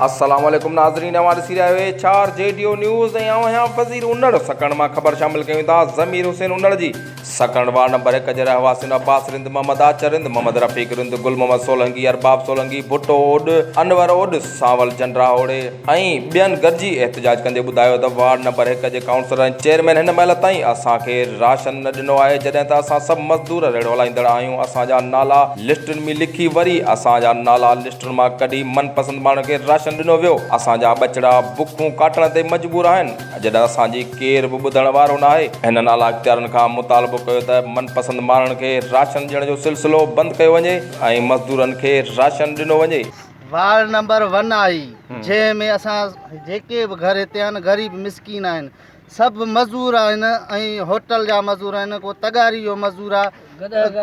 السلام عليڪم ناظرين اوهان ڏسي رهيا آهيو H R J D news ۽ آئون آهيان وزير انڙ سڪڻ مان خبر شامل ڪيون ٿا ضمير حسين انڙ جي سڪڻ وارڊ نمبر هڪ جي رهواسين عباس رند محمد آچر رند محمد رفيق رند گل محمد سولنگي ارباب سولنگي ڀٽو اوڏ انور اوڏ سانول جنڊراهوڙي ۽ ٻين گڏجي احتجاج ڪندي ٻڌايو ته وارڊ نمبر هڪ جي ڪائونسلر ۽ چيئرمين هن مهل تائين اسان کي راشن نه ڏنو آهي جڏهن ته اسان سڀ مزدور ريڙهو هلائيندڙ آهيون اسان جا نالا لسٽن ۾ لکي وري اسان جا نالا لسٽن مان ڪڍي من پسند ماڻهن کي راشن ڏنو ويو اسان جا ٻچڙا بکون ڪاٽڻ تي مجبور آهن جڏهن اسان جي ڪير به ٻڌڻ وارو ناهي. هنن اعليٰ اختيارن کان مطالبو ڪيو ته من پسند ماڻهن کي راشن ڏيڻ جو سلسلو بند ڪيو وڃي ۽ مزدورن کي راشن ڏنو وڃي. وارڊ نمبر ون آهي جنهن ۾ اسان جيڪي به گهر هتي آهن غريب مسڪين آهن سڀ مزور آهن ۽ هوٽل جا مزور آهن ڪو تغاري جو مزور آهي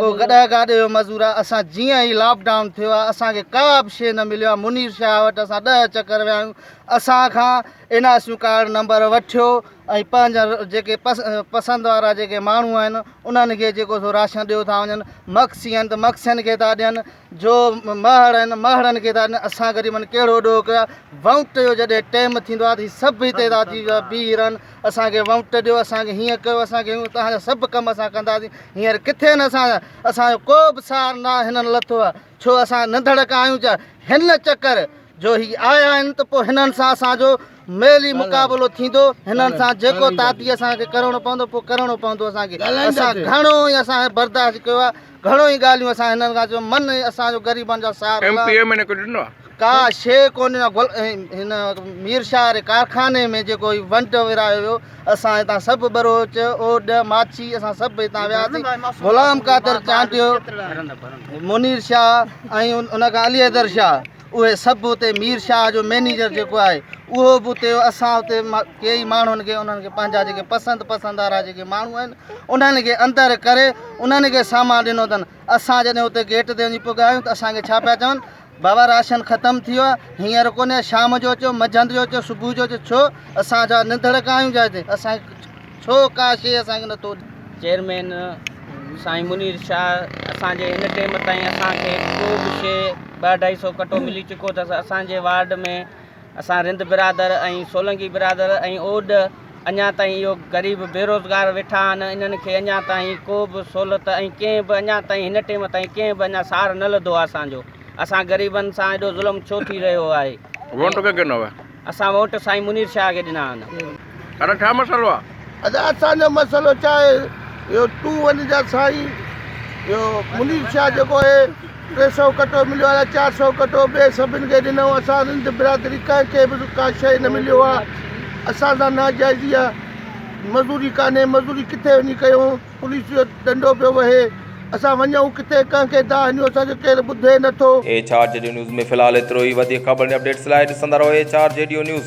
ڪو گڏهه گاڏي جو مزور آهي اسان جيئن هي لاڪ ڊائون ٿيو آهي اسانکي ڪا به شيء نه مليو آهي منير شاهه وٽ اسان ڏهه چڪر ويا آهيون اسان کان N R seven card number وٺيو ۽ پنهنجا جيڪي پس پسند وارا جيڪي ماڻهو آهن انهن کي جيڪو سو راشن ڏيو ٿا وڃن مڪسي آهن ته مڪسين کي ٿا ڏين جو مهاڙن مهاڙن کي ٿا ڏين اسان غريبن ڪهڙو ڏوهه ڪيو آهي ووٽ جو جڏهن ٽيم ٿيندو آهي ته هي سڀ هتي ٿا اچي بيهي رهن اسان کي ووٽ ڏيو اسان کي هيئن ڪيو اسان کي هيئن تهان جا سڀ ڪم اسان ڪنداسين هينئر ڪٿي آهن اسان جا اسان جو ڪو به سار نه هنن لٿو آهي ڇو اسان ننڌڙ ڪا آهيون ڇا هن چڪر جو هي آيا آهن ته پوء هنن سان اسان جو ميل ئي مقابلو ٿيندو هنن سان جيڪو تعدي اسان کي ڪرڻو پوندو پوء ڪرڻو پوندو اسان کي اسان گهڻو ئي اسان برداشت ڪيو آهي گهڻو ئي ڳالهيون اسان هنن کان چيون من اسان جو غريبن جو سهارو ايم پي اي ۾ ڪجهه ڏنو آهي ڪا شي ڪونهي نه گل هن مير شاهه واري ڪارخاني ۾ جيڪو هي ونڊ ورايو ويو اسان هتان سڀ بروچ اوڏ ماڇي اسان سڀ هتان وياسين غلام قادر چانڊيو منير شاهه ۽ ان کان علي حيدر شاهه اهي سڀ اتي مير شاهه جو مئنيجر جيڪو آهي اهو به اتي اسان اتي ڪيئي ماڻهن کي انهن کي پنهنجا جيڪي پسند پسند وارا جيڪي ماڻهو آهن انهن کي اندر ڪري انهن کي سامان ڏنو اٿن اسان جڏهن اتي گيٽ تي وڃي پڳايون ته اسان کي ڇا پيا چون بابا راشن ختم ٿي ويو آهي هينئر ڪونهي شام جو اچو مجهند جو اچو صبح جو اچو ڇو اسان جا ننڌڙڪ آهيون جا هتي اسان ڇو ڪا شيء اسان کي نٿو ڏئي. چيئرمين سائين منير شاهه اسان جي هن ٽيم تائين اسان کي ڪو به شيء ٻه اڍائي سئو ڪٽو ملي چڪو اٿس اسان جي وارڊ ۾ اسان رند برادر ۽ سولنگي برادر ۽ اوڏ اڃا تائين اهو غريب بيروزگار ويٺا آهن انهن کي اڃا تائين ڪو به سهولت ۽ ڪنهن به اڃا تائين هن ٽيم تائين ڪنهن به اڃا سار نه لڌو آهي اسان جو اسان غريبن سان ايڏو ظلم ڇو ٿي رهيو آهي. اسان ووٽ سائين منير شاهه کي ڏنا آهن. ساڊا ڇا مسئلو آ. ادا اسان جو مسئلو ڇا اهي اهو تون وڃ جا سائين اهو منير شاهه جيڪو اهي ٽي سئو ڪٽو مليو ادا چار سئو ڪٽو ٻئي سڀن کي ڏنئون اسان سنڌ برادري ڪنهن کي به ڪا شئي نه مليو آ اسان سان ناجائزي آ مزوري ڪانهي مزوري ڪٿي وڃي ڪيون. پوليس جو ڏنڊو پيو وهي. اسان وڃون ڪٿي؟ ڪنهن کي دانهن هنيو؟ اسان کي ڪير ٻڌي نه ٿو. ايڇ آر جيڊيو نيوز ۾ في الحال ايترو ئي. وڌيڪ خبرن ۽ اپڊيٽس لاء ڏسندا رهو ايڇ آر جيڊيو نيوز.